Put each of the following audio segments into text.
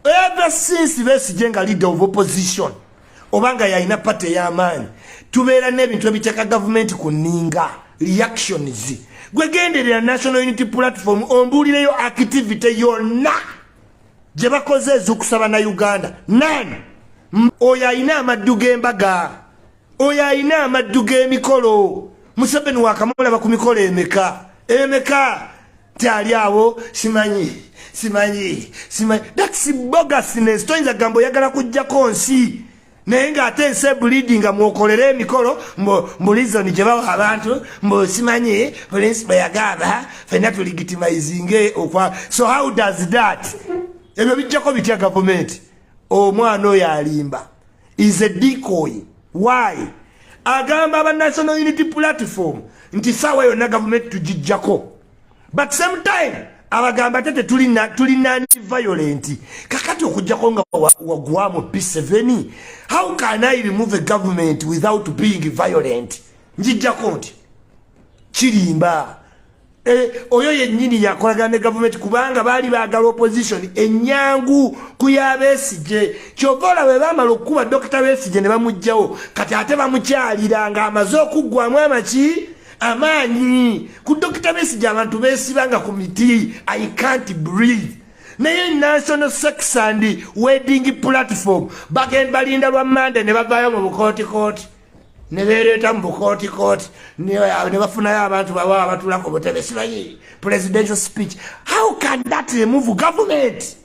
ever since besigye nga leader of opposition obanga yalina pate ey'amaanyi tubeera n'ebintu ebiteeka gavumenti ku nninga reactions gwegenderera national unity platform ombuulireyo activity yonna gye bakoze ez'okusaba na uganda nani oyo alina amaddu g'embaga oyo alina amaddu g'emikolo museveni wakamulaba ku mikolo emeka emeka nti ali awo simanyi simanyi simanyi thats bogasnes toyinza gamba oyagala kujjako nsi naye ng'ate ensi ebulidi nga mwokolera emikolo mbulizoni gye bawa abantu mbu simanyi pulinsi bwe yagamba fenna tuligitimayizinge okwa so how does that ebyo bijjako bitya gavumenti omwana oyo alimba is a decoy why agamba aba national unity platform nti saawa yonna gavumenti tugijjako but same time abagamba tete tulina tulina violent kakati okujjako nga wagwamu p7 how can i remove a government without being violent njijjako nti kirimba Eh, oyo yennyini yakolagana ne gavumenti kubanga baali baagala opposition ennyangu ku ya besigye kyova ola bwe baamala okukuba dokita besigye ne bamugjawo kati ate bamukyalira ng'amaze okuggwamu amaki amaanyi ku dokita besigye abantu beesibanga ku miti i can't breathe naye national sex and wedding platform bagenda balinda lwa mande ne bavaayo mu bukootikooti nebereeta mu bukooti kooti nebafunayo abantu baba abatulako butebe sibayi presidential speech how can that remove government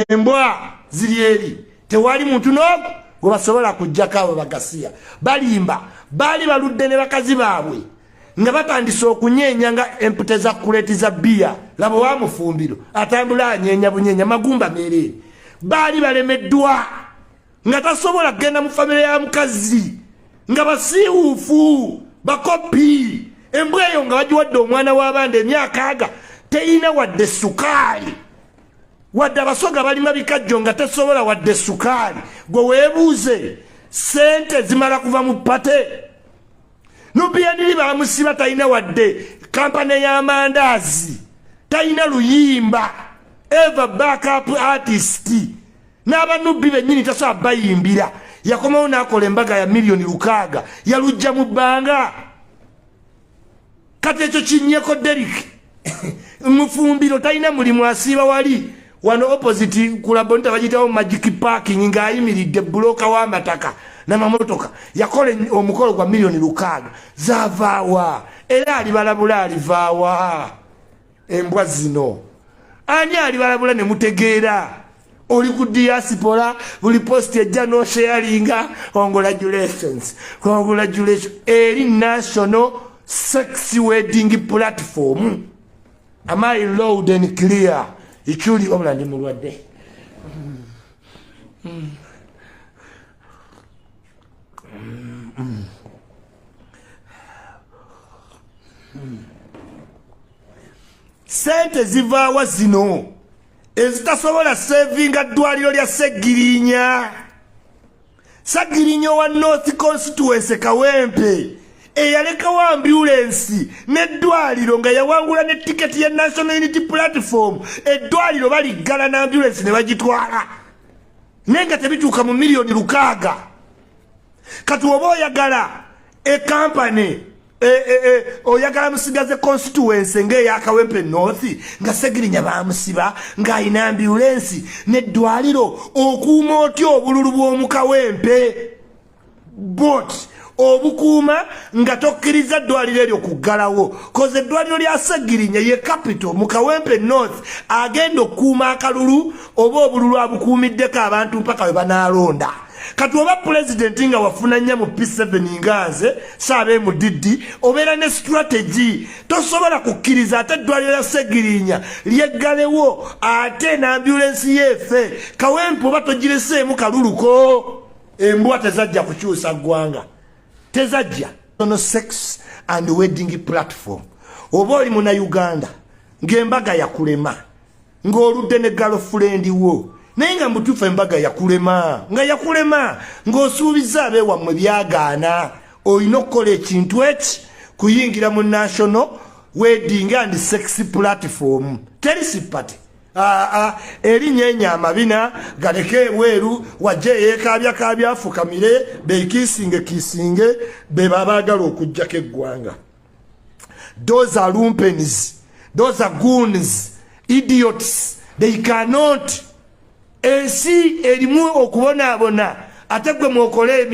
embwa ziri eri tewali muntu nogu gwebasobola kujjako abo bagasiya balimba baali baludde ne bakazi baabwe nga batandise okunyeenya nga empute za kuleti za biya laba wamufumbiro atambula anyeenya bunyeenya magumba mereere baali balemeddwa nga tasobola kugenda mu famire ya mukazi nga basiiwuufu bakopi embwa eyo nga bagiwadde omwana w'abandi emyaka aga teyina wadde sukaali wadde abasoga balima bikajjo nga tesobola wadde sukaali gwe weebuuze sente zimala kuva mu pate nubiyaniri bamusiba talina wadde kampani y'amandaazi talina luyimba eva backup artist n'abanubbi bennyini tasobola bayimbira yakomawo n'akola embaga ya miliyoni lukaaga yalujja mu bbanga kati ekyo kinyeko derik mufumbiro talina mulimu asiiba wali wano opposite kulabonita bagitawo magic parking ng'ayimiridde buloka w'amataka namamotoka yakola omukolo gwa miliyoni lukaaga zavaawa era alibalabula alivaawa embwa zino ani alibalabula ne mutegeera oli ku diaspora buli post ejja nosheyalinga congratulations congratulations eri national sex wedding platform am i loud and clear ikyuli wabula ndi mulwadde mm. Mm. Mm. sente zivaawa zino ezitasobola sevinga ddwaliro lya segirinya sagirinya owa north constituency kawempe eyalekawo ambulensi n'eddwaliro nga yawangula ne tiketi ya national unity platform eddwaliro baliggala n'ambulensi ne bagitwala naye nga tebituuka mu miliyoni lukaaga kati oba oyagala ekampany e, e, e, oyagala musigaze constituency ngaeyakawempe north nga segirinya bamusiba ng'alina ambulensi neddwaliro okuuma otya obululu bw'omukawempe bot obukuuma nga tokkiriza eddwaliro eryo kuggalawo koze eddwaliro lya segirinya ye capital mu kawempe north agenda okukuuma akalulu oba obululu abukuumiddeko abantu mpaka we banaalonda kati oba pulezidenti nga wafuna nya mu p7 nga nze saaba emudiddi obeera ne sitrategi tosobola kukkiriza ate eddwaliro ya segirinya lyeggalewo ate nambulensi yeefe kawempe oba togireseemu kaluluko embwa tezajja kukyusa ggwanga tezajja ono sex and wedding platform oba oli muna uganda ng'embaga yakulema ng'oludde ne galofulendi wo naye nga mubutuufu embaga yakulema nga yakulema ng'osuubiza abeewammwe byagaana olina okukola ekintu eki kuyingira mu national wedding and sex platform teri sipate aa ah, ah, erinnya enyo amabina galeke ebweru wajja eyeekaabya kaabyafukamire bekiisinge kiisinge be babaagala okugyako eggwanga those are lumpens those are goons idiots they cannot ensi erimu okubonaabona ate gwe mwokola